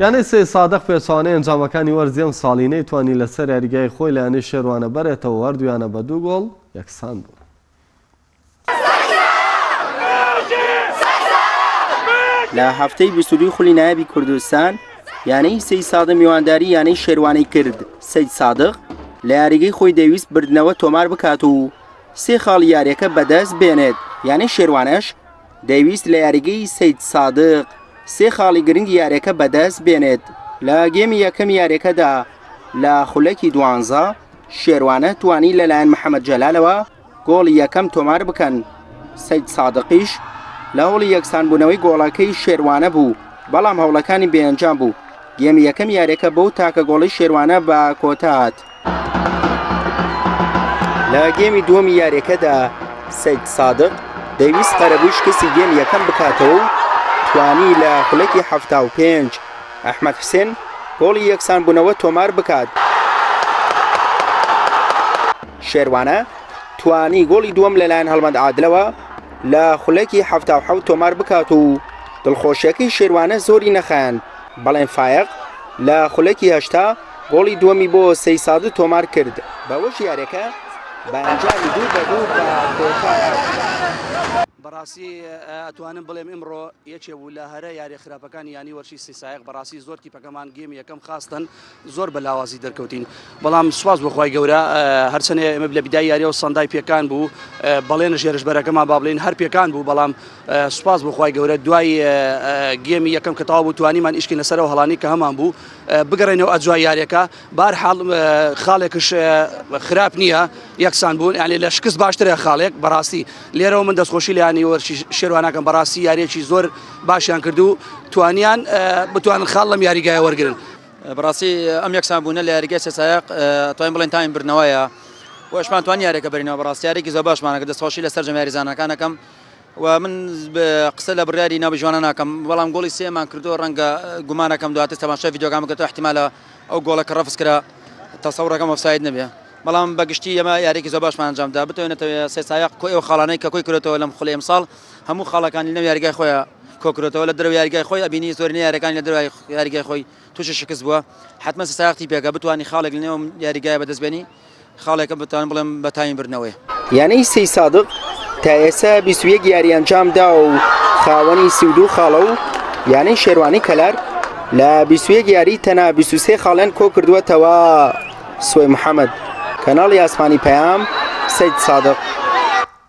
یانەی سەید سادق پێچەوانەی ئەنجامەکانی وەرزی ئەمساڵی نەیتوانی لەسەر یاریگای خۆی لە یانەی شێروانە بەرێتەوە و هەردوو یانە بە دوو گۆڵ یەکسان بوون. لە هەفتەی بیست و دووی خولی نایابی کوردستان یانەی سەید سادق میوانداری یانەی شێروانی کرد سەید سادق لە یاریگەی خۆی دەویست بردنەوە تۆمار بکات و سێ خاڵی یاریەکە بەدەست بێنێت یانەی شێروانەش دەیویست لە یاریگەی سەید سادق سێ خاڵی گرنگی یاریەکە بەدەست بێنێت لە گێمی یەکەمی یاریەکەدا لە خولەکی دوانزە شێروانە توانی لەلایەن محەممەد جەلالەوە گۆڵی یەکەم تۆمار بکەن سەید سادقیش لە هەوڵی یەکسانبوونەوەی گۆڵەکەی شێروانە بوو بەڵام هەوڵەکانی بێنجام بوو گێمی یەکەم یاریەکە بەو تاکە گۆڵی شێروانە بە کۆتات لە گێمی دووەمی یاریەکەدا سید سادق دەویست قەرەبووی شکستی گێم یەکەم بکاتەوە و توانی لە خولەکی هەفتا و پێنج ئەحمد حسێن گۆڵی یەکسان بوونەوە تۆمار بکات شێروانە توانی گۆڵی دووەم لەلایەن هەڵمەند عادلەوە لە خولەکی هەفتا و حەوت تۆمار بکات و دڵخۆشیەکەی شێروانە زۆری نەخایەن بەڵێن فایق لە خولەکی هەشتا گۆڵی دووەمی بۆ سەیسادو تۆمار کرد. بەوەش یاریەکە بە ئەنجامی دوو بە دوو بە کۆتا هات. بەڕاستی ئەتوانم بڵێم ئمڕۆ یەکێ بوو لە هەرە یاریە خراپەکانی یانی وەرشی سی سایەق بەڕاستی زۆر تیپەکەمان گێمی یەکەم خاستن زۆر بە لاوازی دەرکەوتین بەڵام سوپاس بۆ خوای گەورە هەرچەنێ ئێمە لە بیدای یاریەوە سەندای پێکان بوو بەڵێنە ژێرش بەرەکەمان با بڵێن هەر پێکان بوو بەڵام سوپاس بۆ خوای گەورە دوای گێمی یەکەم کە تەوا بوو توانیمان ئیشکی لەسەرەوە هەڵانی کە هەمان بوو بگەڕێنەوە ئەدوای یاریەکە بارحاڵ خاڵێکش خراپ نییە یەکسان بوون یانێ لە شکست باشترە خاڵێک بەڕاستی لێرەوە من دەستخۆشی لایانی وەرشی شێوانەکەم بەڕاستی یاریەکی زۆر باشیان کردو توانیان بتوان خاڵ لەم یاریگای وەرگن بەڕاستی ئەم یەکسان بوونە لە یاریگە سەسایق توانین بڵێن تایم برنەوەیە وەشمان توان یاریەکە بەرینەوە بەڕاستیارێکی زۆر باشمانەکە دەستخۆشی لە سەررجەم یاریزانەکانەکەم و من قسە لە بڕیاری ناوی ژوانە ناکەم بەڵام گۆڵی سێمان کردووە ڕەنگە گومانەکەم دواتر تەماشای ڤیدیۆکان بکەن ئیحتیمالە ئەو گۆڵە کە ڕەفز کرا تەسەوڕەکەم ئۆفساید نەبێ بەڵام بە گشتی ئێمە یاریێکی زۆر باشمان ئەنجام دا بتوانێتەوە سێ سایق کۆی ئەو خاڵانەی کە کۆی کرێتەوە لەم خولی ئەمساڵ هەموو خاڵەکانی لەم یاریگای خۆیان کۆکرێتەوە لە درو یاریگای خۆی ئەبینی زۆر یاریەکانی لە درای یاریگای خۆی تووشی شکست بووە حتممە ساختی پێکە بتانی خاڵێک لەنێوم یاریگای بەدەستبێنی خاڵێکە بتوانم بڵێم بە تامی بردنەوەیە. یانەی سەیسادق تا ئێستا بیست و یەک یاری ئەنجام داوە و خاوەنی سی و دوو خاڵە و یانەی شێروانی کەلار لە بیست و یەک یاری تەنها بیست و سێ خاڵیان کۆکردووەتەوە. سوەی محەمەد، کەناڵی ئاسمانی پەیام، سەیدسادق.